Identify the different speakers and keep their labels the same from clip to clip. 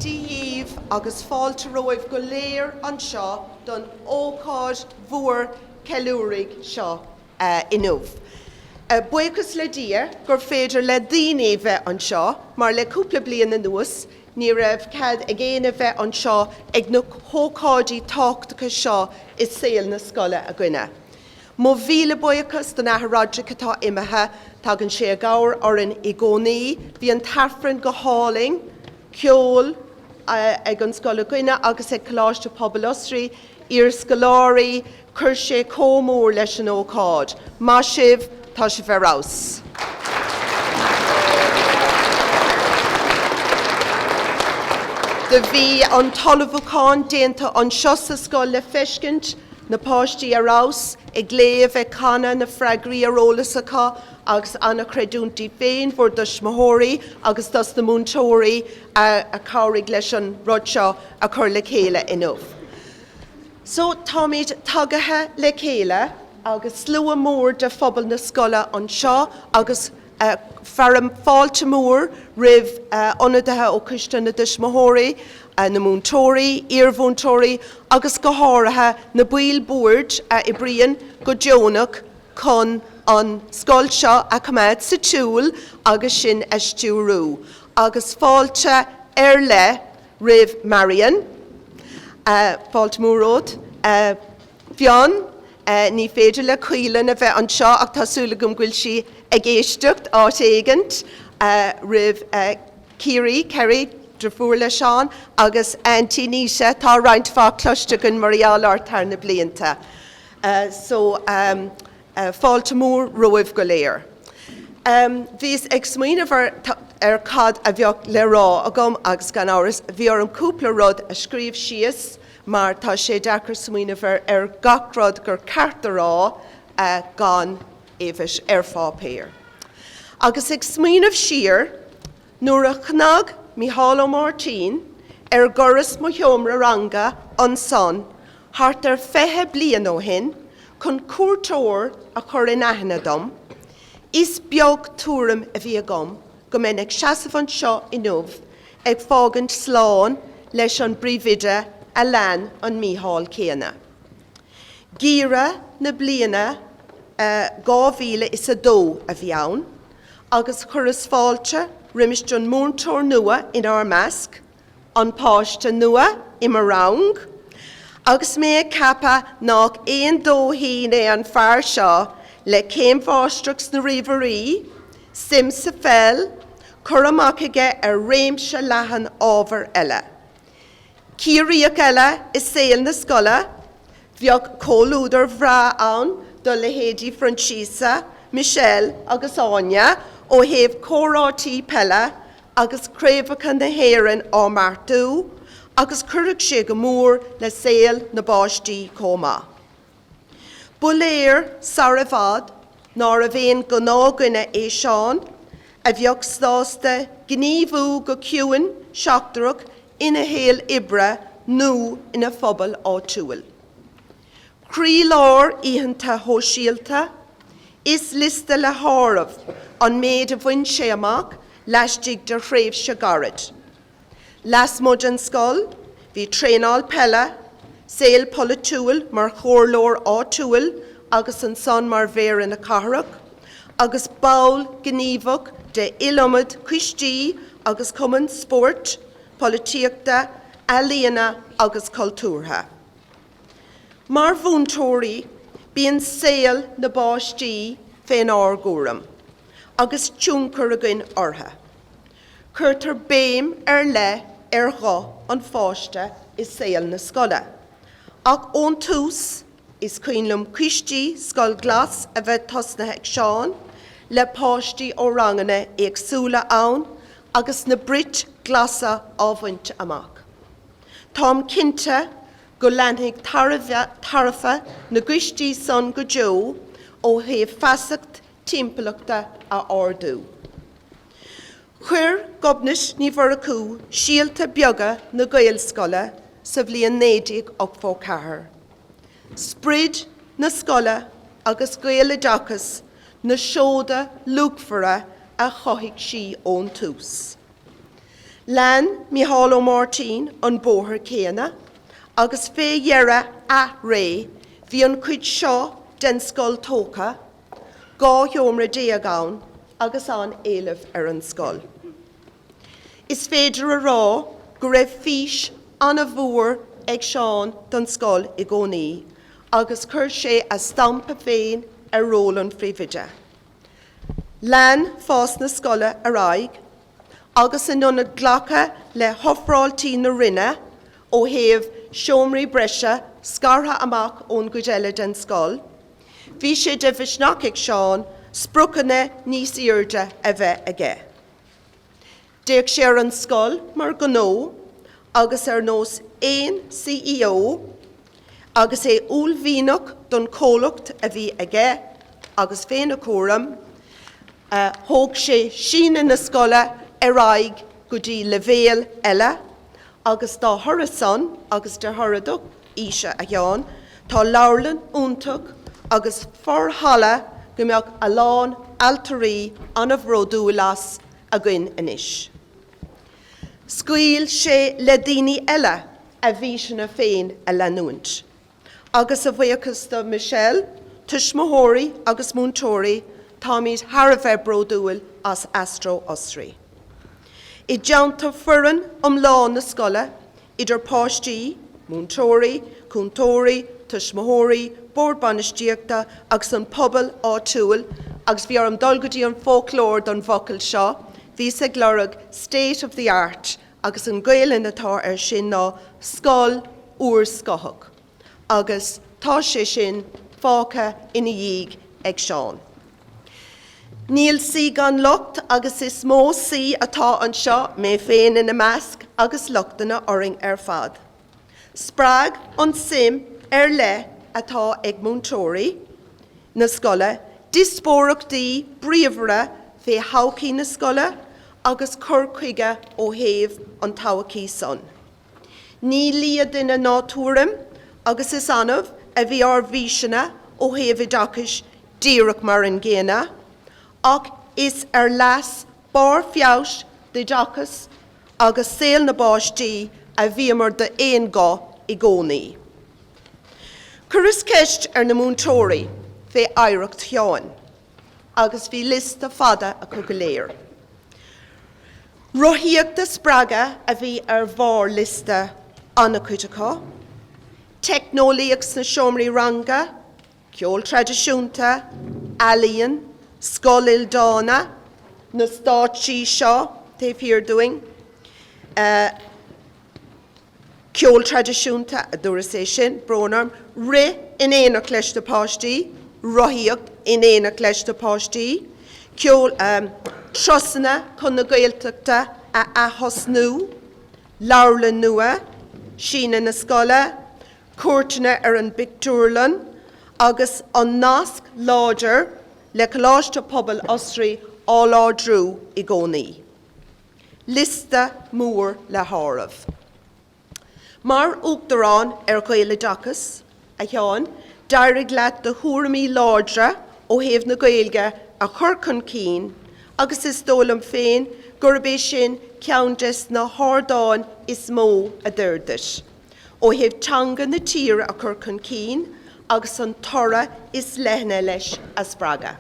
Speaker 1: Dia dhíbh agus fáilte romhaibh go léir anseo don ócáid mhór cheiliúraidh seo inniu. Buíochas le Dia gur féidir le daoine bheith anseo mar le cúpla bliain anuas ní raibh cead ag éinne bheith anseo ag na hócáidí tábhachtacha seo i saol na scoile againne. Mo mhíle buíochas don Athair Roderick atá imithe. Tagann sé i gcabhair orainn i gcónaí. Bhí an tAifreann go hálainn. Ceol ag an scoil againne agus ag Coláiste Pobail Osraí, iarscoláirí, chuir sé comh mór leis an ócáid. Maith sibh, tá sibh ar fheabhas. Do bhí an t-ullmhúchán déanta anseo sa scoil le feiscint Na páistí ar fheabhas, ag léamh, ag canadh, na freagraí ar eolas acu agus an-chreidiúint díbh féin bhur dtuismitheoirí agus dos na múinteoirí a chabhraigh leis an rud seo a chur le chéile inniu. So, táimid tagaithe le chéile agus slua mór de phobal na scoile anseo agus. a. Fearaim fáilte mhór roimh ionadaithe ó Choiste na dTuismitheoirí, na múinteoirí, iarmhúinteoirí agus go háirithe na baill boird a oibríonn go deonach chun an scoil seo a choimeád sa tsiúl agus sinn a stiúrú, agus fáilte ar leith roimh Marion. Fáilte mhór romhat a. Fionn, Ní féidir le Caoileann a bheith anseo ach tá súil agam go bhfuil sí ag éisteacht áit éigint roimh Kerry, Kerry, driofúr le Seán, agus Aintí Naoise, tá roinnt mhaith cloiste againn mar gheall ort thar na blianta. So, fáilte mhór romhaibh go léir. Bhíos ag smaoineamh ar cad a bheadh le rá agam agus gan amhras bhí orm cúpla rud a scríobh síos. mar tá sé deacair smaoineamh ar gach rud gur ceart a rá gan é a bheith thíos ar pháipéar. Agus ag smaoineamh siar, nuair a chnag Micheál Ó Máirtín ar dhoras mo sheomra ranga ansan thart ar fiche bliain ó shin chun cuairteoir a chur in aithne dom, is beag tuairim a bhí agam go mbeinn ag seasamh anseo inniu ag fágaint slán leis an bpríomhoide a lean an Mícheál céanna. Geimhreadh na bliana 2002 a bhí ann agus chuireas fáilte roimis an múinteoir nua inár measc, an páiste nua i mo rang agus mé ag ceapadh nach aon dóithín é an fear seo le céim mháistreachta sna ríomhairí, suim sa pheil, cur amach aige ar réimse leathan ábhar eile. Ciarraíoch eile i saol na scoile, bheadh comhluadar bhreá ann do leithéidí Proinsiasa, Michelle agus Áine ó thaobh comhráití peile agus craobhacha na hÉireann á mbeartú agus cuirfeadh sé go mór le saol na bpáistí chomh maith. Ba léir sar i bhfad nárbh aon ghnáthdhuine é Seán a bheadh sásta gníomhú go ciúin seachtrach ina shaol oibre nó ina phobal áitiúil. Croílár oícheanta shóisialta, Is liosta le háireamh an méid a bhain sé amach laistigh de thréimhse gairid. Lasmuigh den scoil, bhí traenáil peile, saol polaitiúil mar chomhairleoir áitiúil agus ansan mar Mhéara na Cathrach, agus ball gníomhach de iliomad coistí agus cumainn spóirt, polaitíochta, ealaíona agus cultúrtha. Mar mhúinteoirí, bíonn saol na bpáistí fén ár gcúram agus tionchar againn orthu. Cuirtear béim ar leith ar ghuth an pháiste i saol na scoile ach ón tús, is cuimhin liom coistí Scoil Glas a bheith tosnaithe ag Seán le páistí ó ranganna éagsúla ann agus na brit glasa á mbaint amach. Táim cinnte go leanfaidh tairbhe na gcoistí san go deo ó thaobh feasacht timpeallachta a ardú. Chuir Gobnait Ní Mhurchú síolta beaga na Gaelscoile sa bhliain 1984. Sprid na scoile agus Gaeloideachas na seoda luachmhara a chothaigh sí ón tús. Lean Micheál Ó Máirtín an bóthar céanna agus fé dheireadh a ré bhí an chuid seo den scoil tógtha, dhá sheomra déag ann agus an-éileamh ar an scoil. Is féidir a rá go raibh fís ana-mhór ag Seán don scoil i gcónaí agus chuir sé a stampa féin ar ról an phríomhoide. Lean fás na scoile ar aghaidh agus in ionad glacadh le hofráiltí na Roinne ó thaobh seomraí breise scartha amach ón gcuid eile den scoil, bhí sé de mhisneach ag Seán spriocanna níos airde a bheith aige. D'fhéach sé ar an scoil mar ghnó agus ar nós aon C.E.O. agus é uaillmhianach don chomhlacht a bhí aige agus féna chúram, thóg sé síneadh na scoile ar aghaidh go dtí leibhéal eile agus dá thoradh san agus de thoradh do fhíse, a Sheáin, tá leabharlann iontach agus forhalla go mbeadh a lán ailtirí ana bhródúil as. againn anois. Scaoil sé le daoine eile a bhfíseanna féin a leanúint, agus a bhuíochas do Michelle, tuismitheoirí agus múinteoirí, táimid thar a bheith bródúil as Astro Osraí. I dteannta foireann iomlán na scoile, idir pháistí, múinteoirí, cúntóirí, tuismitheoirí, bord bainistíochta agus an pobal áitiúil agus bhí orm dul go dtí an foclóir don bhfocal seo, bhíos ag lorg state of the art agus an Gaelainn atá ar sin ná scoil úrscothach. agus tá sé sin fágtha ina dhiaidh ag Seán. Níl saoi gan locht agus is mó saoi atá anseo, mé féin ina measc, agus lochtanna orainn ar fad. Spreag an tsuim ar leith atá ag múinteoirí na scoile diospóireachtaí bríomhara fé thodhchaí na scoile agus cur chuige ó thaobh an todhchaí san. Ní lia duine ná tuairim, agus is annamh a bhí ár bhfíseanna ó thaobh oideachais díreach mar an gcéanna, ach is ar leas barr feabhais oideachais agus saol na bpáistí a bhíomar d'aon guth i gcónaí. Chuireas ceist ar na múinteoirí fé oidhreacht Sheáin. agus bhí liosta fada acu go léir. Rothaíocht a spreagadh a bhí ar bharr liosta an-chuid acu, teicneolaíocht sna seomraí ranga, ceol traidisiúnta, ealaíon, Scoil Ildána, na stáitsí seo taobh thiar dúinn, Ceol traidisiúnta, a dúras é sin, brón orm, rith in éineacht leis na páistí, rothaíocht in éineacht leis na páistí, ceol, turasanna chun na Gaeltachta a atosnú, leabharlann nua, síneadh na scoile, cuairteanna ar an bpictiúrlann agus an nasc láidir le Coláiste Pobail Osraí á láidriú i gcónaí. liosta mór le háireamh. Mar Uachtarán ar Ghaeloideachas, a Sheáin, d'éirigh leat do thuairimí láidre ó thaobh na Gaeilge a chur chun cinn agus is dóigh liom féin gurb é sin ceann des na hardáin is mó a d'oir duit, ó thaobh teanga na tíre a chur chun cinn agus an toradh is leithne leis a spreagadh.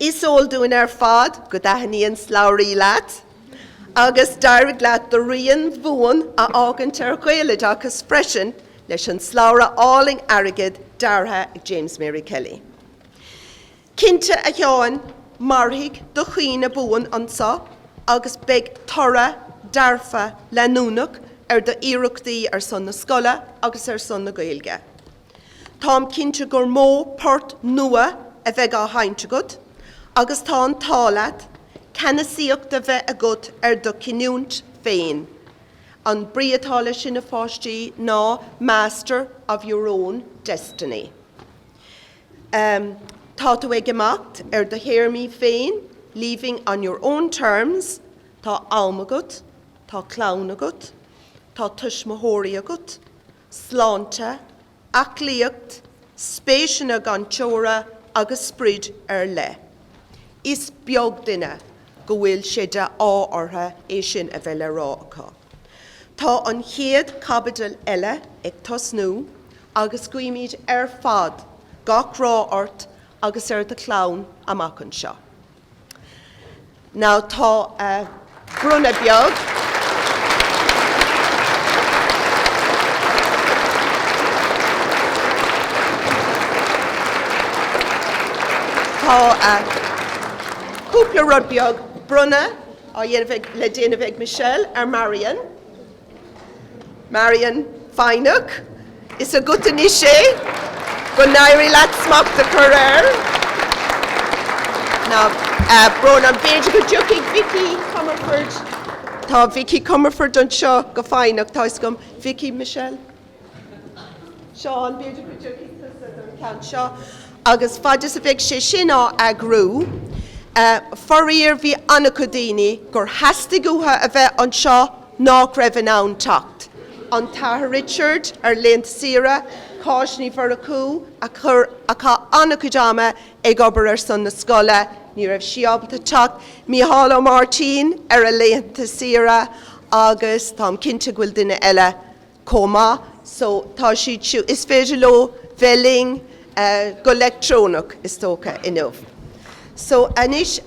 Speaker 1: Is eol dúinn ar fad go dtaithníonn slabhraí leat, agus d'éirigh leat do rian buan a fhágaint ar Ghaeloideachas freisin leis an slabhra álainn airgid deartha ag James Mary Kelly. Cinnte a Sheáin, mairfidh do chuimhne buan anseo agus beidh toradh dearfa leanúnach ar do iarrachtaí ar son na scoile agus ar son na Gaeilge. Táim cinnte gur mó port nua a bheidh á sheinnt agat agus tá an t-ádh leat ceannasaíocht a bheith agat ar do chinniúint féin. An brí atá leis sin, a pháistí, ná master of your own destiny. Tá tú ag imeacht ar do théarmaí féin, leaving on your own terms. Tá am agat, tá clann agat, tá tuismitheoirí agat. sláinte, aclaíocht, spéiseanna gan teora agus sprid ar leith. Is beag duine go bhfuil sé de ádh ortha é sin a bheith le rá acu. Tá an chéad chaibidil eile ag tosnú agus guímid ar fad gach rath ort agus ar do chlann amach anseo. Now, tá bronnadh beag. Tá cúpla rud beag bronnadh á dhéanamh le déanamh ag Michelle ar Marion. Marion, foighne, is agat anois é, go n-éirí leat smacht a chur air. Now, Rónán, b'fhéidir go dtiocfaidh Vicky Comerford, tá Vicky Comerford anseo go foighneach, tá 'fhios agam, Vicky, Michelle? So, b'fhéidir go dtiocfaidh tusa don cheann seo agus faid is a bheidh sé sin á eagrú. Faraor bhí an-chuid daoine gur theastaigh uathu a bheith anseo nach raibh in ann teacht. An tAthair Richard ar a laethanta saoire, Cáit Ní Mhurchú a chaith an-chuid ama ag obair ar son na scoile, ní raibh sí ábalta teacht, Micheál Ó Máirtín ar a laethanta saoire agus táim cinnte go bhfuil duine eile. chomh maith. So tá siad siúd, is féidir leo bheith linn go leictreonach is dócha inniu. So anois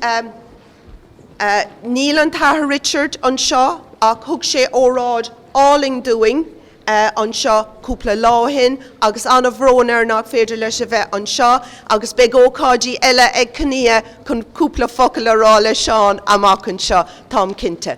Speaker 1: níl an tAthair Roderick anseo ach thug sé óráid álainn dúinn anseo cúpla lá ó shin agus an-bhrón air nach féidir leis a bheith anseo agus beidh ócáidí eile ag Kinneá chun cúpla focal a rá le Seán amach anseo táim cinnte.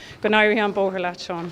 Speaker 1: Go n-éirí an bóthar leat, Seán.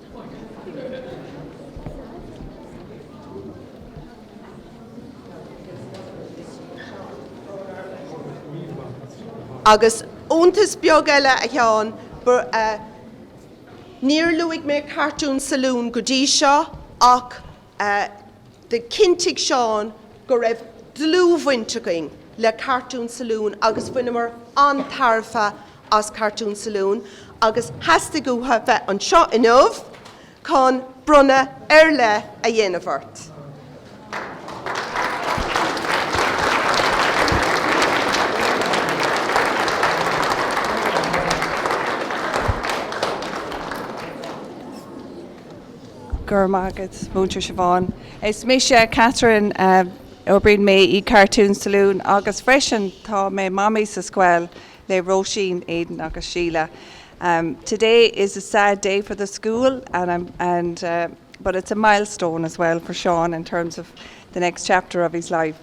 Speaker 1: Agus iontas beag eile, a Sheáin, níor luaigh mé Cartoon Saloon go dtí seo ach do chinntigh Seán go raibh dlúthbhaint againn le Cartoon Saloon agus bhaineamar an-tairbhe as Cartoon Saloon agus theastaigh uathu bheith anseo inniu chun bronnadh ar leith a dhéanamh ort. Go raibh maith agat, Múinteoir Siobhán. Is mise Catherine. Oibríonn mé in Cartoon Saloon agus freisin tá mé Mamaí sa scoil le Róisín, Aidan agus Síle. Today is a sad day for the school but it's a milestone as well for Seán in terms of the next chapter of his life.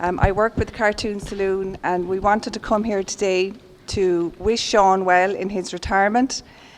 Speaker 1: I work with Cartoon Saloon and we wanted to come here today to wish Seán well in his retirement.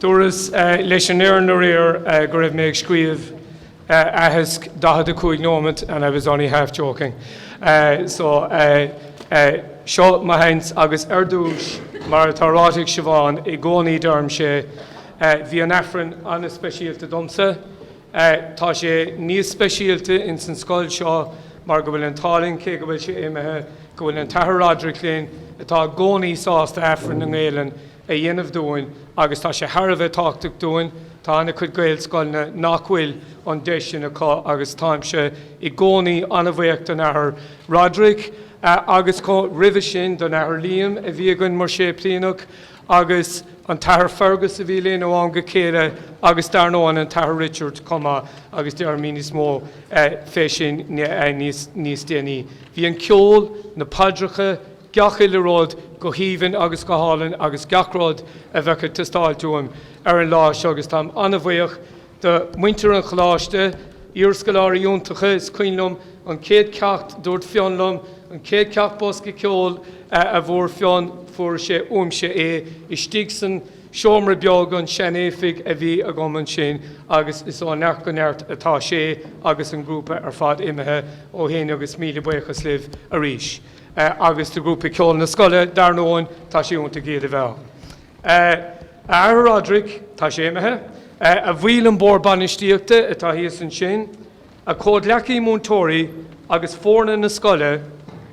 Speaker 1: Dúras leis an fhoireann aréir go raibh mé ag scríobh aitheasc 45 nóiméad and I was only half joking. So, seo mo sheans agus ar dtús, mar atá ráite ag Siobhán, i gcónaí deirim é, bíonn an tAifreann an-speisialta domsa. Tá sé níos speisialta ins an scoil seo mar go bhfuil an t-ádh linn, cé go bhfuil sé imithe, go bhfuil an tAthair Roderick linn, atá i gcónaí sásta Aifreann i nGaelainn, a dhéanamh dúinn agus tá sé thar a bheith tábhachtach dúinn. Tá an-chuid Gaelscoileanna nach bhfuil an deis sin acu agus táimse i gcónaí an-bhaoch don Athair Roderic agus roimhe sin don Athair Liam a bhí againn mar Shéiplíneach agus an tAthair Fergus a bhí linn ó am go chéile agus dar ndóigh an tAthair Richard chomh maith agus deirimid níos mó fé sin níos déanaí. Bhí an ceol, na paidreacha, gach uile rud go haoibhinn agus go hálainn agus gach rud a bheadh ag teastáilt uaim ar an lá seo agus táim an-bhuíoch do mhuintir an Choláiste, iarscoláirí iontacha, is cuimhin liom an chéad cheacht dúirt Fionn liom, an chéad cheacht bosca ceoil a fuair Fionn fuair sé uaimse é istigh san seomra beag, an seanoifig a bhí agam ansin agus is ó neart go neart atá sé agus an grúpa ar fad imithe ó shin agus míle buíochas libh arís. agus do ghrúpa ceoil na scoile, dar ndóin, tá sé iontach iad a bheith ann. A Athair Roderick, tá sé imithe. A bhaill an Bhoird Bainistíochta atá thíos ansin. A chomhghleacaithe múinteoirí agus foirne na scoile.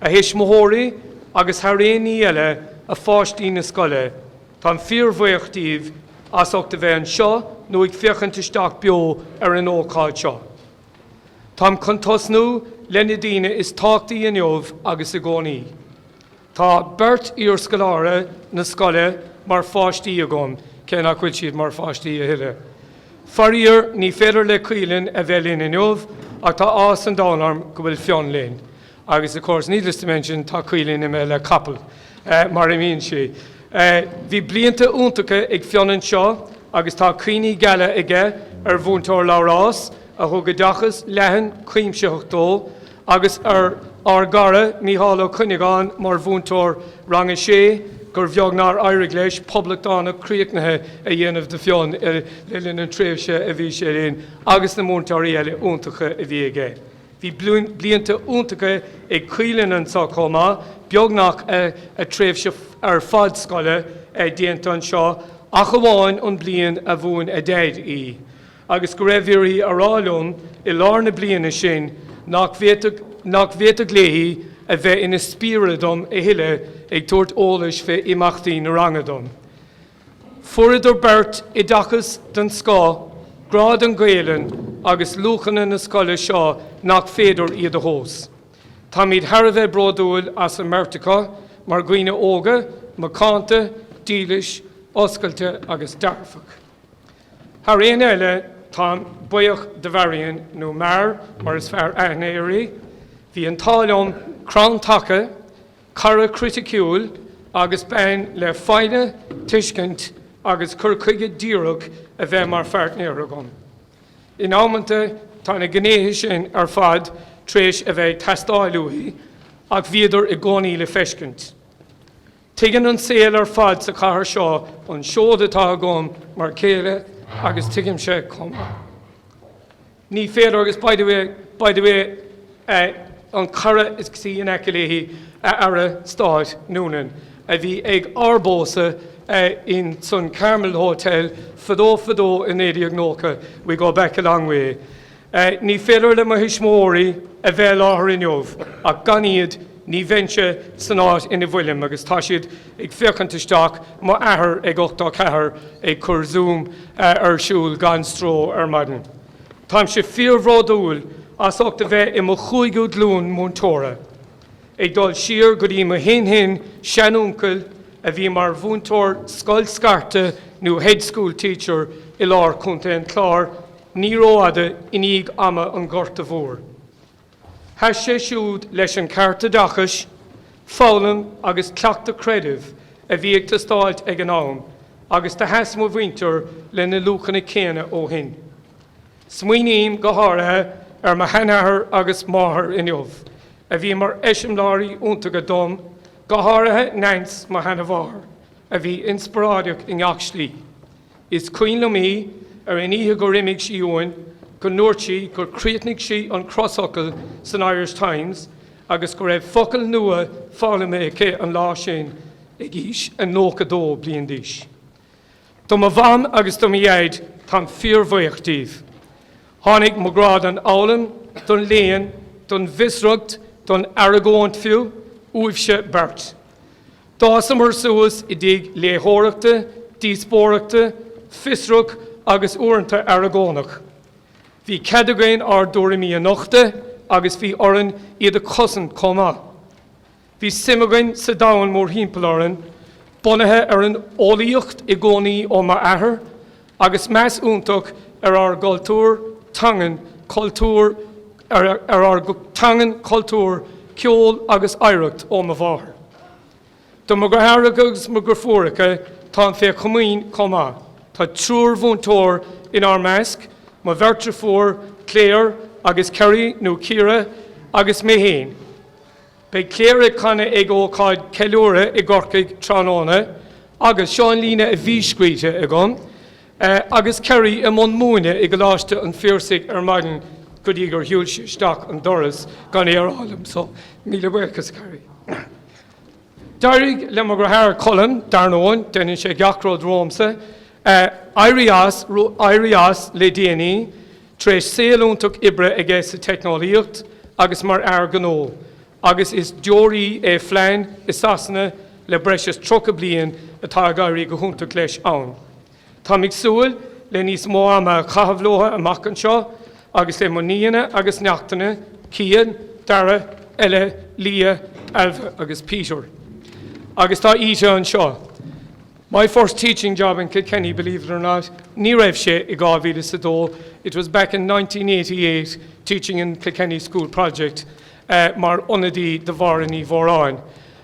Speaker 1: A thuismitheoirí agus, thar aon ní eile, a pháistí na scoile, táim fíorbhaoch díbh as ucht a bheith anseo nó ag féachaint isteach beo ar an ócáid seo. Táim chun tosnú le na daoine is tábhachtaí inniu agus i gcónaí. Tá beirt iarscoláire na scoile mar pháistí agam, cé nach bhfuil siad mar pháistí a thuilleadh. Faraor, ní féidir le Caoilinn a bheith linn inniu ach tá áthas an domhain orm go bhfuil Fionn linn. Agus, of course, needless to mention, tá Caoilinn i mbéal le capall, mar a bhíonn sí. Bhí blianta iontacha ag Fionn anseo agus tá cuimhní geala aige ar Mhúinteoir Labhrás, a thug oideachas leathan cuimsitheach dó, agus ar ár gcara Micheál Ó Cuinneagáin mar mhúinteoir Rang a Sé gur bheag nár éirigh leis poblachtánach críochnaithe a dhéanamh de Fionn le linn an tréimhse a bhí sé linn agus na múinteoirí eile iontacha a bhí aige. Bhí blianta iontacha ag Caoilinn anseo chomh maith, beagnach a tréimhse ar fad scoile déanta anseo ach amháin an bhliain a mhúin a Daid í agus go raibh uirthi a rá liom i lár na bliana sin nach bhféadfadh léi a bheith ina spiaire dom a thuilleadh ag tabhairt eolais fé imeachtaí na ranga dom. Fuaireadar beirt oideachas den scoth, grá don Ghaelainn agus luachanna na scoile seo nach féidir iad a thomhas. Táimid thar a bheith bródúil as an mbeirt acu mar dhaoine óga, macánta, dílis, oscailte agus dearfach. Thar aon eile, táim buíoch do Mharion, nó Mar mar is fearr aithne uirthi. Bhí an t-ádh liom crann taca, cara criticiúil agus bean le foighne, tuiscint agus cur chuige díreach a bheith mar pháirtnéir agam. In amanta tá na gnéithe sin ar fad tar éis a bheith ag teastáil uaithi ach bhíodar i gcónaí le feiscint. Tuigeann an saol ar fad sa chathair seo an seod atá agam mar chéile agus tuigimse chomh maith. Ní féidir, agus by the way, by the way, an cara istigh in aice léi, a Aire Stáit Noonan, a bhí ag ár bpósadh in san Carmel Hotel fadó fadó i 1990, we go back a long way, ní féidir le mo thuismitheoirí a bheith i láthair inniu ach gan iad ní bheinnse san áit ina bhfuilim agus tá siad ag féachaint isteach, mo athair ag ochtó a ceathair ag cur Zoom ar siúl gan stró ar maidin. Táimse fíorbhródúil as ucht a bheith i mo chúigiú glúin múinteora, ag dul siar go dtí mo shin-shin seanuncail a bhí mar mhúinteoir scoil scairte nó hedge school teacher i lár Chontae an Chláir ní rófhada i ndiaidh ama an Ghorta Mhóir. Sheas sé siúd leis an ceart oideachais, foghlaim agus cleachtadh creidimh a bhí ag teastáilt ag an am agus do sheas mo mhuintir le na luachanna céanna ó shin. Smaoiním go háirithe ar mo sheanathair agus máthair inniu a bhí mar eiseamláirí iontacha dom, go háirithe Neans, mo sheana-mháthair, a bhí inspioráideach i ngach slí. Is cuimhin liom í ar an oíche gur imigh sí uainn go ndúirt sí gur chríochnaigh sí an crosfhocal san Irish Times agus go raibh focal nua foghlamtha aici an lá sin ag aois a 92 bliain d'aois. Do mo mham agus do mo dhaid, táim fíorbhaoch díobh. Tháinig mo ghrá don fhoghlaim, don léann, don bhfiosracht, don argóint fiú, uaibhse beirt. D'fhásamar suas i dtigh léitheoireachta, díospóireachta, fiosrach agus uaireanta aragónach. Bhí cead againn ár dtuairimí a nochtadh agus bhí orainn iad a chosaint chomh maith. Bhí suim againn sa domhan mórthimpeall orainn, bunaithe ar an eolaíocht i gcónaí ó m'athair, agus meas iontach ar ár gcultúr teangan cultúr ar ár teangan cultúr ceol agus oidhreacht ó mo mháthair. Do mo dheartháireacha agus mo dheirfiúracha táim fé chomaoin chomh maith. Tá triúr mhúinteoir inár measc, mo bheirt dheirfiúr Claire agus Kerry nó Ciara agus mé féin. Beidh Claire ag canadh ag ócáid ceiliúrtha i gCorcaigh tráthnóna agus seo an líne a bhí scríte agam agus Kerry i mbun múineadh i gColáiste an Phiarsaigh ar maidin go dtí gur shiúil sí isteach an doras gan é a rá liom so míle buíochas Kerry. D'éirigh le mo dheartháir Colm, dar ndóigh, déanann sé gach rud romhamsa, éirí as le déanaí, Tar éis saol iontach oibre aige sa teicneolaíocht agus mar fhear gnó, agus is deoraí é Flann i Sasana le breis is tríocha bliain, atá ag éirí go hiontach leis ann. Táim ag súil le níos mó ama a chaitheamh leo amach anseo, agus le mo nianna agus neachtanna, Cian, Darragh, Ella, Leah, Ailbhe agus Peter. Agus tá Íte anseo. My first teaching job in Kilkenny, believe it or not, ní raibh sé i dhá mhíle is a dó, it was back in nineteen eighty eight, teaching in Kilkenny School Project, mar ionadaí do Mháire Ní Mhóráin,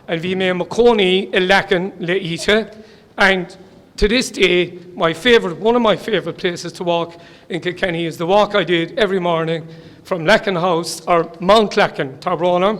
Speaker 1: and bhí mé i mo cónaí i Leacain le Íte, and to this day my favourite, one of my favourite places to walk in Kilkenny is the walk I did every morning from Leacain House, or Mount Leacain, tá brón orm,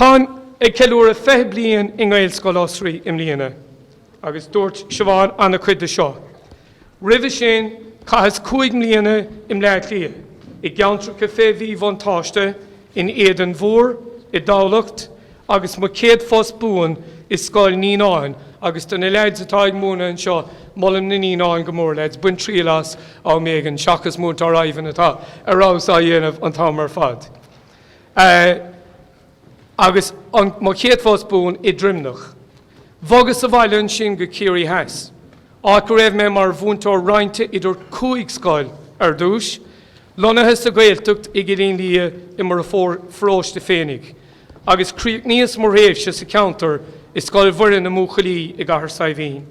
Speaker 1: Táim ag ceiliúradh 20 bliain i nGaelscoil Osraí i mbliana agus dúirt Siobhán an-chuid de seo. Roimhe sin, chaitheas cúig mbliana i mBleá Cliath, i gceantracha fé mhíbhuntáiste, in Éadan Mhór, i dTamhlacht agus mo chéad phost buan i Scoil Naíonáin agus do na leaids atá ag múineadh anseo, molaim na Naíonáin go mór, leaids, bain triail as am éigin seachas Múinteoir Ivan atá ar fheabhas á dhéanamh an t-am ar fad. Agus mo chéad phost buan i nDroimneach. Bhogas abhaile ansin go Ciarraí Theas, áit go raibh mé mar mhúinteoir roinnte idir cúig scoil ar dtús, lonnaithe sa Ghaeltacht i gCillín Liath i mo pharóiste féinig, agus chríochnaíos mo thréimhse sa cheantar i Scoil Mhuire na mBuachaillí i gCathair Saidhbhín.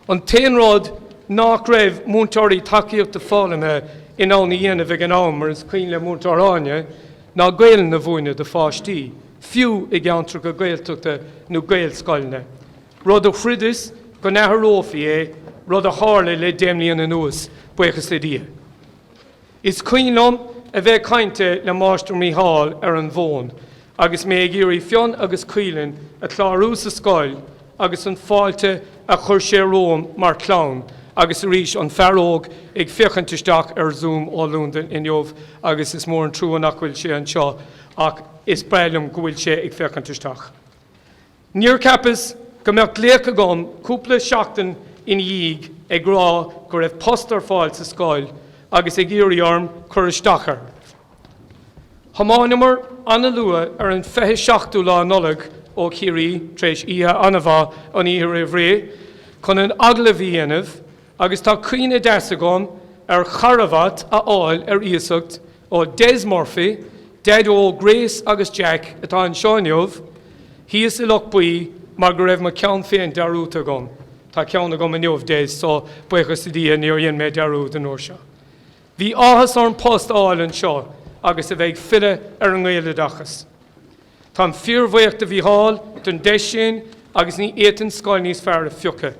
Speaker 1: An t-aon rud nach raibh múinteoirí tacaíochta foghlama in ann a dhéanamh ag an am, mar is cuimhin le Múinteoir Áine, ná Gaolainn a mhúineadh do pháistí, fiú i gceantracha Gaeltachta nó Gaelscoileanna, rud a chreideas go n-athrófaí é, rud a tharla le deich mbliana anuas, buíochas le Dia. Is cuimhin liom a bheith ag caint le Máistir Mícheál ar an bhfón agus mé ag iarraidh Fionn agus Caoileann a chlárú sa scoil agus an fáilte a chuir sé romhainn mar chlann agus arís an fear óg ag féachaint isteach ar Zoom ó Londain inniu agus is mór an trua nach bhfuil sé anseo ach is breá liom go bhfuil sé ag féachaint isteach. Níor cheapas go mbeadh glaoch agam cúpla seachtain ina dhiaidh ag rá go raibh post ar fáil sa scoil agus ag iarraidh orm cur isteach air. Thiomáineamar an-luath ar an 27ú lá Nollaig ó Chiarraí, tar éis oíche an-mhaith an oíche roimh ré, chun an t-agallamh a dhéanamh agus tá cuimhne deas agam ar charbhat a fháil ar iasacht ó Des Murphy, daideo Grace agus Jack atá anseo inniu, thíos i Loch Buí mar go raibh mo cheann féin dearúdta agam. Tá ceann agam inniu, Des, so buíochas do Dhia níor dhein mé dearúdadh an uair seo. Bhí áthas orm post a fháil anseo agus a bheith ag filleadh ar an nGaeloideachas. Táim fíorbhuíoch do Mhícheál don deis sin agus ní fhéadfainn scoil níos fearr a phiocadh.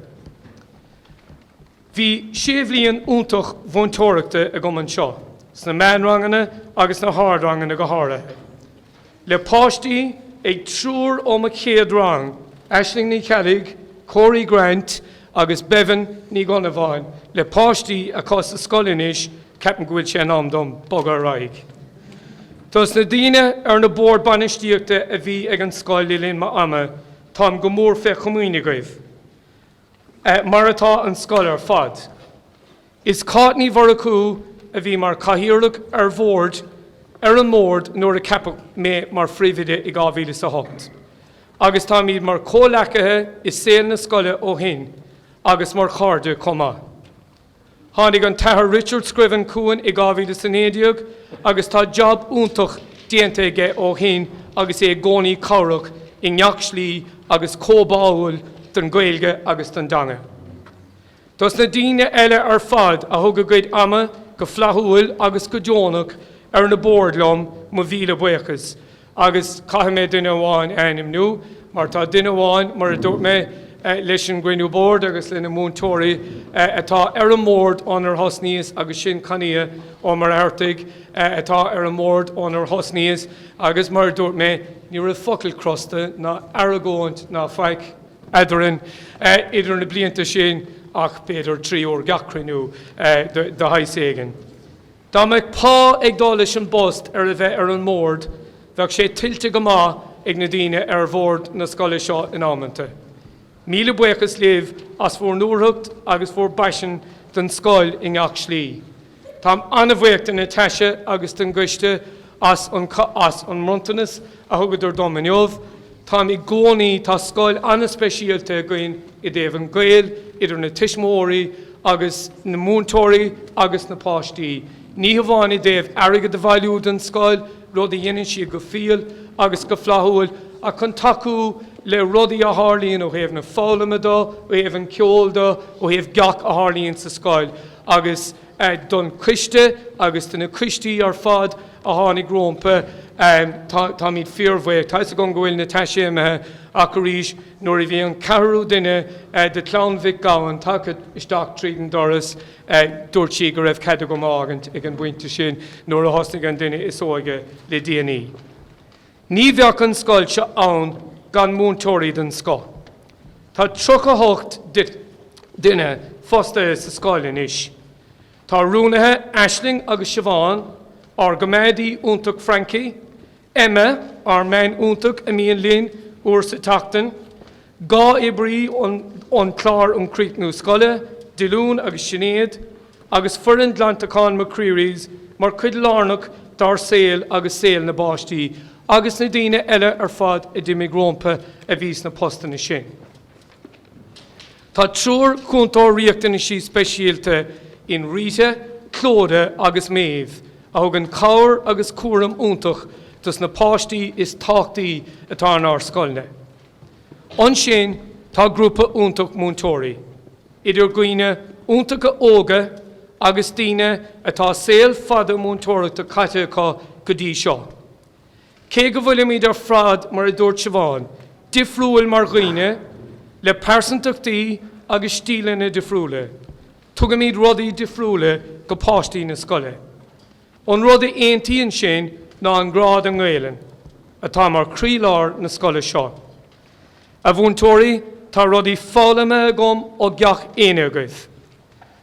Speaker 1: Bhí sé bhliain iontach mhúinteoireachta agam anseo, sna meánranganna agus sna hardranganna go háirithe, le páistí ag triúr ó mo chéad rang, Aisling Ní Cheallaigh, Corey Grant agus Bebhinn Ní Dhonnabháin, le páistí acu sa scoil anois, ceapaim go bhfuil sé in am dom bogadh ar aghaidh. Dos na daoine ar na boird bainistíochta a bhí ag an scoil le linn m'ama, táim go mór fé chomaoin agaibh. mar atá an scoil ar fad. Is Cáit Ní Mhurchú a bhí mar Chathaoirleach ar Bhord ar an mBord nuair a ceapadh mé mar Phríomhoide i 2008 agus táimid mar chomhleacaithe i saol na scoile ó shin agus mar chairde chomh maith. Tháinig an tAthair Richard Scriven chugainn i 2019 agus tá jab iontach déanta aige ó shin agus é i gcónaí cabhrach i ngach slí agus chomh báúil don Ghaeilge agus don dteanga. Dos na daoine eile ar fad a thug a gcuid ama go flaithiúil agus go deonach ar na boird liom. Mo mhíle buíochas. Agus caithfidh mé duine amháin a ainmniú, mar tá duine amháin, mar a dúirt mé leis an gcruinniú boird agus le na múinteoirí, atá ar an mbord ónar thosnaíos agus sin Connie Ó Muircheartaigh, atá ar an mbord ónar thosnaíos agus, mar a dúirt mé, ní raibh focal crosta ná argóint ná faic eadarainn idir na blianta sin ach b'fhéidir trí i ngach cruinniú de shaghas éigin. Dá mbeadh pá ag dul leis an bpost ar a bheith ar an mbord, bheadh sé tuillte go maith ag na daoine ar bhord na scoile seo in amanta. Míle buíochas libh as bhur ndúthracht agus bhur bpaisean don scoil i ngach slí. Táim an-bhuíoch de Natasha agus den gcoiste as an as an mbronntanas a thugadar dom inniu. Táim i gcónaí, tá scoil an-speisialta againn i dtaobh an gaol idir na tuismitheoirí agus na múinteoirí agus na páistí, ní hamháin i dtaobh airgead a bhailiú don scoil, rud a dhéanann siad go fial agus go flaithiúil, ach chun tacú le rudaí a tharlaíonn ó thaobh na foghlama de, ó thaobh an cheoil de, ó thaobh gach a tharlaíonn sa scoil agus. don choiste agus do na coistí ar fad a tháinig rompu. Táimid fíorbhuíoch. Tá 'fhios agam go bhfuil na taiséimithe, ach arís, nuair a bhí an ceathrú duine de chlann Mhic Gabhann tagtha isteach tríd an doras, dúirt sí go raibh cead agam fágaint ag an bpointe sin, nuair a thosnaigh an duine is óige le déanaí. Ní bheadh an scoil seo ann gan múinteoirí den scoth. Tá tríocha hocht duine fostaithe sa scoil anois. Tá rúnaithe Aisling agus Siobhán, ár gcoimeádaí iontach Frankie, Emma, ár mbean iontach a mbíonn linn uair sa tseachtain, Dhá oibrí ón Chlár um Chríochnú Scoile, Dylan agus Sinéad, agus foireann ghlantacháin McCreery's mar chuid lárnach dár saol agus saol na bpáistí agus na daoine eile ar fad a d'imigh rompu a bhí sna postanna sin. Tá triúr Cúntóir Riachtanas Speisialta in Rita, Clodagh agus Maeve a thugann cabhair agus cúram iontach dos na páistí is tábhachtaí atá inár scoileanna. Ansin tá grúpa iontach múinteoirí, idir dhaoine iontacha óga agus daoine atá saol fada múinteoireachta caite acu go dtí seo. Cé go bhfuilimid ar fad, mar a dúirt Siobhán, difriúil mar dhaoine, le pearsantachtaí agus stíleanna difriúla, tugaimid rudaí difriúla go páistí na scoile. An rud a aontaíonn sinn ná an grá don nGaelainn atá mar chroílár na scoile seo. A mhúinteoirí, tá rudaí foghlamtha agam ó gach éinne agaibh.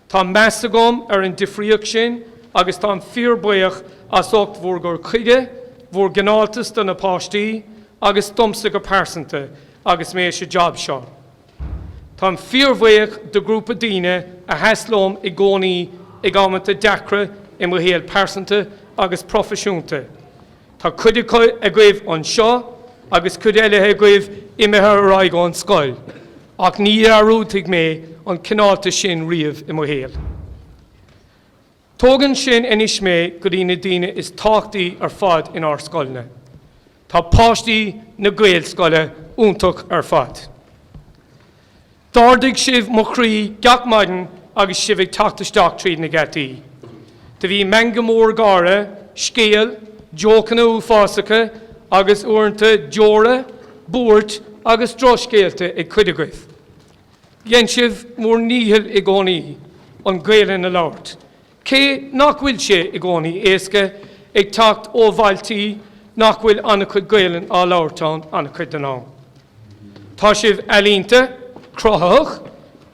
Speaker 1: Tá meas agam ar an difríocht sin agus táim fíorbhuíoch as ucht bhur gcur chuige, bhur gcineáltas do na páistí agus domsa go pearsanta agus mé sa jab seo. Táim fíorbhuíoch do ghrúpa daoine a sheas liom i gcónaí ag amanta deacra i mo shaol pearsanta agus proifisiúnta. Tá cuid agaibh anseo agus cuid eile agaibh imithe ar aghaidh ón scoil, ach ní dhearúdfaidh mé an cineáltas sin riamh i mo shaol. Tógann sin anois mé go dtí na daoine is tábhachtaí ar fad inár scoileanna. Tá páistí na Gaelscoile iontach ar fad. D'ardaigh sibh mo chroí gach maidin agus sibh ag teacht isteach tríd na geataí. Do bhí meangadh mór gáire, scéal, jócanna uafásacha agus, uaireanta, deora, buairt agus drochscéalta ag cuid agaibh. Dhein sibh bhur ndícheall i gcónaí an Gaelainn a labhairt, cé nach bhfuil sé i gcónaí éasca, ag teacht ó bhailtí nach bhfuil an-chuid Gaelainn á labhairt ann an-chuid den am. Tá sibh ealaíonta, cruthaitheach,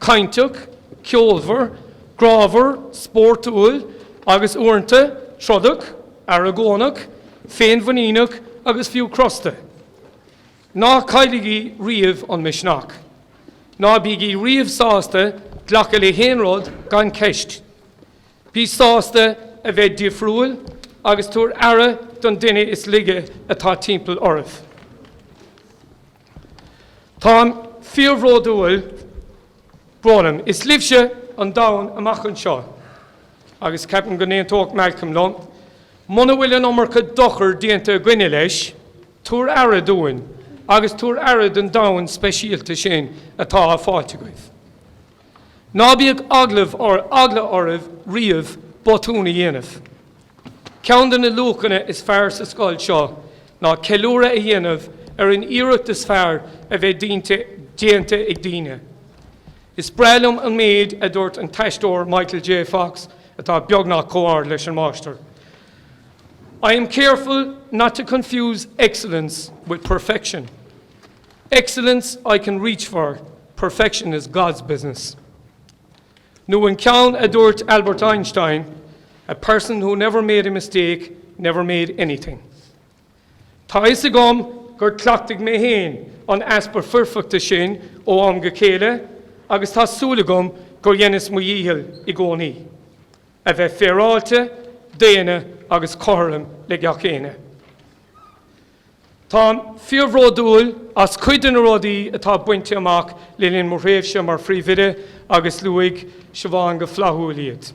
Speaker 1: cainteach, ceolmhar, grámhar, spórtúil agus, uaireanta, trodach, argóinteach, féinmhuiníneach agus fiú crosta. Ná cailligí riamh an misneach. Ná bígí riamh sásta glacadh le haon rud gan ceist. Bí sásta a bheith difriúil agus tabhair aire don duine is laige atá timpeall oraibh. Táim fíorbhródúil brónach. Is libhse an domhan amach anseo. Agus ceapaim go n-aontóidh Malcolm liom, muna bhfuil an iomarca dochair déanta againne leis, Tabhair aire dúinn agus tabhair aire don domhan speisialta sin atá á fháil agaibh. Ná bíodh aon eagla oraibh riamh botún a dhéanamh. Ceann de na luachanna is fearr sa scoil seo ná ceiliúradh a dhéanamh ar an iarracht is fearr a bheith déanta ag daoine. Is breá liom an méid a dúirt an t-aisteoir Michael J. Fox, atá beagnach chomh ard leis an Máistir, I am careful not to confuse excellence with perfection. Excellence I can reach for, perfection is God's business. Nó an ceann a dúirt Albert Einstein, A person who never made a mistake never made anything. Tá a fhios agam gur chleachtaigh mé féin an easpa foirfeachta sin ó am go chéile agus tá súil agam gur dheineas mo dhícheall i gcónaí. A bheith féaráilte, daonna agus cothrom le gach éinne. Táim fíorbhródúil as cuid de na rudaí atá bainte amach le linn mo thréimhse mar Phríomhoide agus luaigh Siobhán go flaithiúil iad.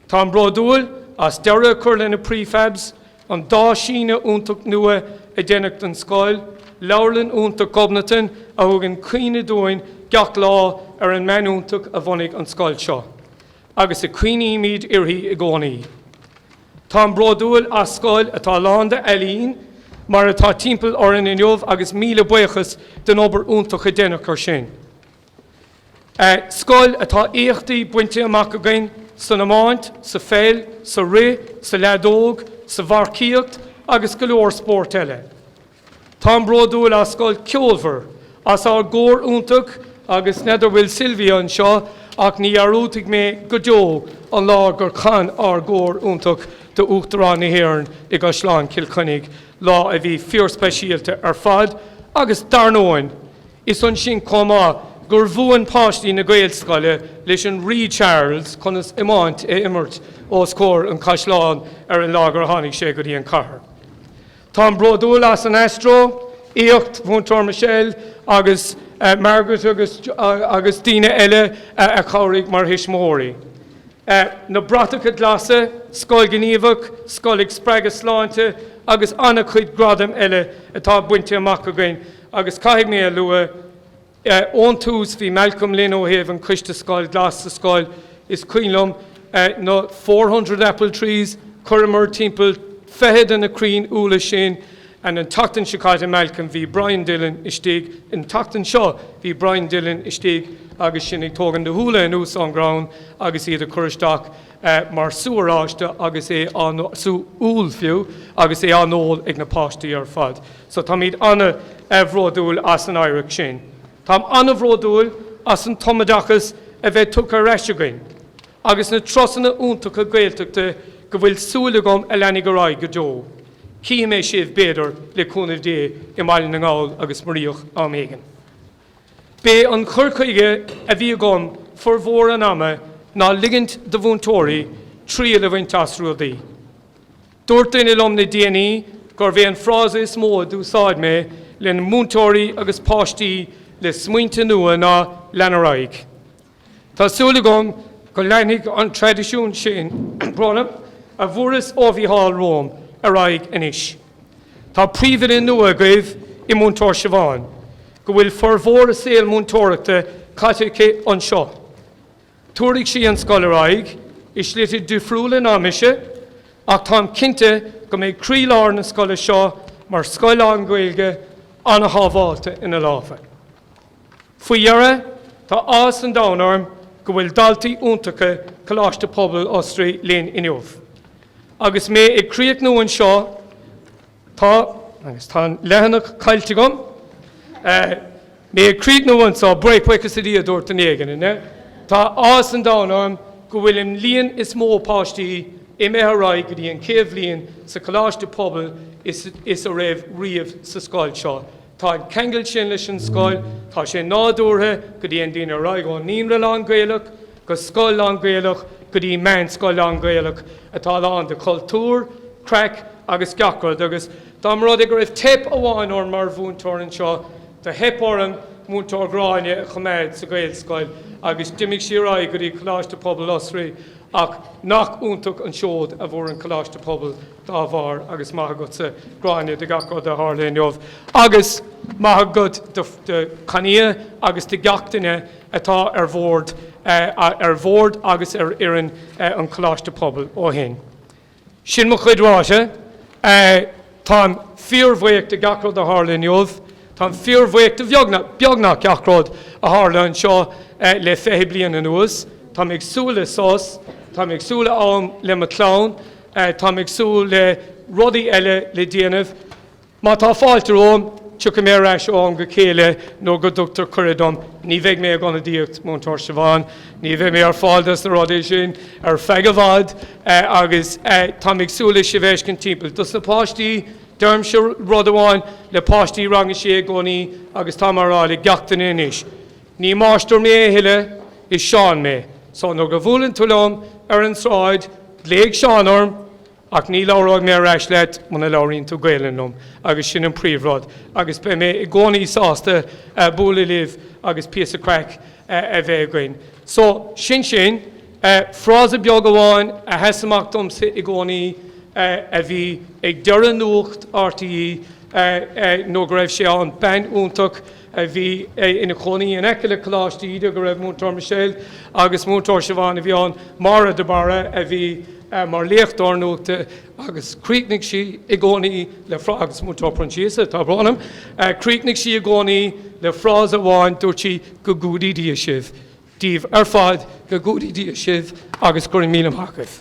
Speaker 1: Táim bródúil as deireadh a chur le na prefabs, an dá síneadh iontach nua a deineadh don scoil, Leabharlann iontach Ghobnatan a thugann cuimhne dúinn gach lá ar an mbean iontach a bhunaigh an scoil seo. agus cuimhnímid uirthi i gcónaí. Táim bródúil as scoil atá lán d'ealaín mar atá timpeall orainn inniu agus míle buíochas den obair iontach a deineadh air sin. Scoil atá éachtaí bainte amach againn san iomáint, sa pheil, sa rith, sa leadóg, sa mharcaíocht agus go leor spórt eile. Táim bródúil as scoil ceolmhar, as ár gcór iontach agus n'fheadar bhfuil Sylvia anseo ach ní dhearúdfaidh mé go deo an lá gur chan ár gcór iontach d'Uachtarán na hÉireann i gCaisleán Chill Chainnigh, lá a bhí fíorspeisialta ar fad agus dar ndóin, is ansin chomh maith gur mhúin páistí na Gaelscoile leis an Rí Charles conas iomáint a imirt os comhair an chaisleáin ar an lá gur tháinig sé go dtí an chathair. Táim bródúil as an aisteoireacht, Mhúinteoir Michelle agus Margaret agus agus daoine eile a chabhraigh mar thuismitheoirí. Na bratacha glasa, Scoil Ghníomhach, Scoil ag Spreagadh Sláinte agus an-chuid gradaim eile atá bainte amach againn agus caithfidh mé a lua, Ón tús bhí Malcolm linn ó thaobh an Coiste Scoil Glas sa scoil is cuimhin liom na four hundred apple trees, chuireamar timpeall fiche de na crainn úlla sin ann. An tseachtain seo caite Malcolm bhí Brian Dillon istigh, an tseachtain seo bhí Brian Dillon istigh agus sinn ag tógaint na n-úlla anuas ón gcrann agus iad a chur isteach mar sú oráiste agus é á sú úll fiú, agus é á ól ag na páistí ar fad. So táimid an-bhródúil as an oidhreacht sin. Táim an-bhródúil as an tumoideachas a bheith tugtha ar ais againn agus na turasanna iontacha Gaeltachta go bhfuil súil agam a leanfaidh ar aghaidh go deo. Cífidh mé sibh, b'fhéidir, le cúnamh Dé, i mBaile na nGall agus Ard Mhór am éigin. B'é an chur chuige a bhí agam formhór an ama ná ligint do mhúinteoirí triail a bhaint as rudaí. Dúirt duine liom le déanaí gurbh é an frása is mó a d'úsáid mé le múinteoirí agus páistí le smaointe nua ná 'lean ar aghaidh'. Tá súil agam go leanfaidh an traidisiún sin a fuaireas ó Mhícheál romham ar aghaidh anois. Tá príomhoide nua agaibh i Múinteoir Siobhán, go bhfuil formhór a saol múinteoireachta caite aici anseo. Tabharfaidh sí an scoil ar aghaidh i slite difriúla ná mise ach táim cinnte go mbeidh croílár na scoile seo mar scoil lán-Ghaeilge an-shábháilte ina lámha. Faoi dheireadh, tá áthas an domhain orm go bhfuil daltaí iontacha Coláiste Pobail Osraí linn inniu. Agus mé ag críochnú anseo, Tá, agus tá an leathanach caillte agam, mé ag críochnú anseo, buíochas le Dia a dúirt éinne? Tá áthas an domhain orm go bhfuil an líon is mó páistí imithe ar aghaidh go dtí an chéad bhliain sa Choláiste Pobail is a raibh riamh sa scoil seo. Tá an ceangal sin leis an scoil, tá sé nádúrtha go dtéann daoine ar aghaidh ón naíonra lán-Gaelach, go scoil lán-Ghaelach go dtí meánscoil lán-Ghaelach atá lán de chultúr, craic agus gach rud agus dá mba rud é go raibh teip amháin orm mar mhúinteoir anseo, do theip orm Múinteoir Gráinne a choimeád sa Ghaelscoil agus d'imigh sí ar aghaidh go dtí Coláiste Pobail Osraí ach nach iontach an seod a fuair an Coláiste Pobail dá bharr agus maith agatsa Gráinne do gach rud a tharla inniu agus maith agat do Chaoimhe agus do gach duine atá ar bhord ar bhord agus ar fhoireann an Choláiste Pobail ó shin. Sin mo chuid ráite. Táim fíorbhuíoch de gach rud a tharla inniu. Táim fíorbhuíoch de beagnach gach rud a tharla anseo le fiche bliain anuas. Táim ag súil le sos, táim ag súil le am le mo chlann, táim ag súil le rudaí eile le déanamh. Má tá fáilte romham, tiocfaidh mé ar ais ó am go chéile nuair go dtugtar cuireadh dom. Ní bheidh mé ag ionadaíocht Múinteoir Siobhán. Ní bheidh mé ar fáil dos na rudaí sin ar feadh i bhfad agus táim ag súil le sibh a fheiscint timpeall. Dos na páistí, deirimse rud amháin le páistí Rang a Sé i gcónaí agus táim á rá le gach duine anois. Ní máistir mé a thuilleadh, is Seán mé. So nuair go bhuaileann tú liom ar an tsráid, glaoigh Seán orm. Ach ní labhróidh mé ar ais leat muna labhraíonn tú Gaelainn liom agus sin an príomhrud agus beidh mé i gcónaí sásta bualadh libh agus píosa craic a bheith againn. So, sin sin. Frása beag amháin a sheas amach domsa i gcónaí a bhí ag deireadh Nuacht RTÉ nuair go raibh sé ann, bean iontach a bhí ina chónaí in aice le Coláiste Íde go raibh Múinteoir Michelle agus Múinteoir Siobhán a bhí ann, Máire de Barra a bhí mar léachtóir nuachta agus chríochnaigh sí i gcónaí le frá-, agus Múinteoir Proinsias atá ag rá liom, chríochnaigh sí i gcónaí le frása amháin, dúirt sí, 'Go gcumhdaí Dia sibh'. daoibh ar fad, go gcumhdaí Dia sibh agus gura míle maith agaibh.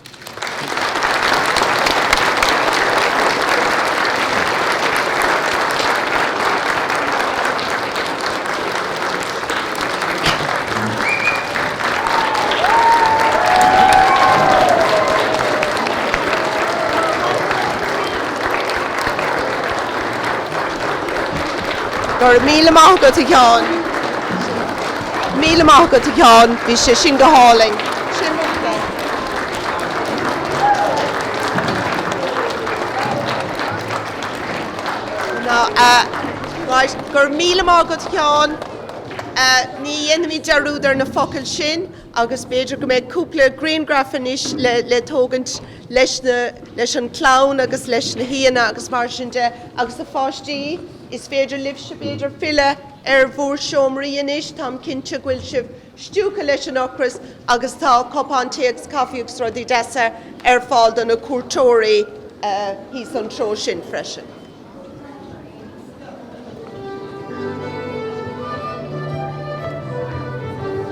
Speaker 1: Go raibh míle maith agat, a Sheáin. Míle maith agat, a Sheáin, bhí sé sin go hálainn. Sin rud maith. Ná a Right, go raibh míle maith agat, Sheáin. Ní dhéanfaimid dearúd ar na focail sin agus b'fhéidir go mbeidh cúpla grianghraf anois le le tógaint leis na leis an chlann agus leis na haíonna agus mar sin de agus a pháistí, is féidir libhse b'fhéidir filleadh. ar bhur seomraí anois, táim cinnte go bhfuil sibh stiúgtha leis an ocras agus tá cupán tae agus caife agus rudaí deasa ar fáil do na cuairteoirí thíos an treo sin freisin.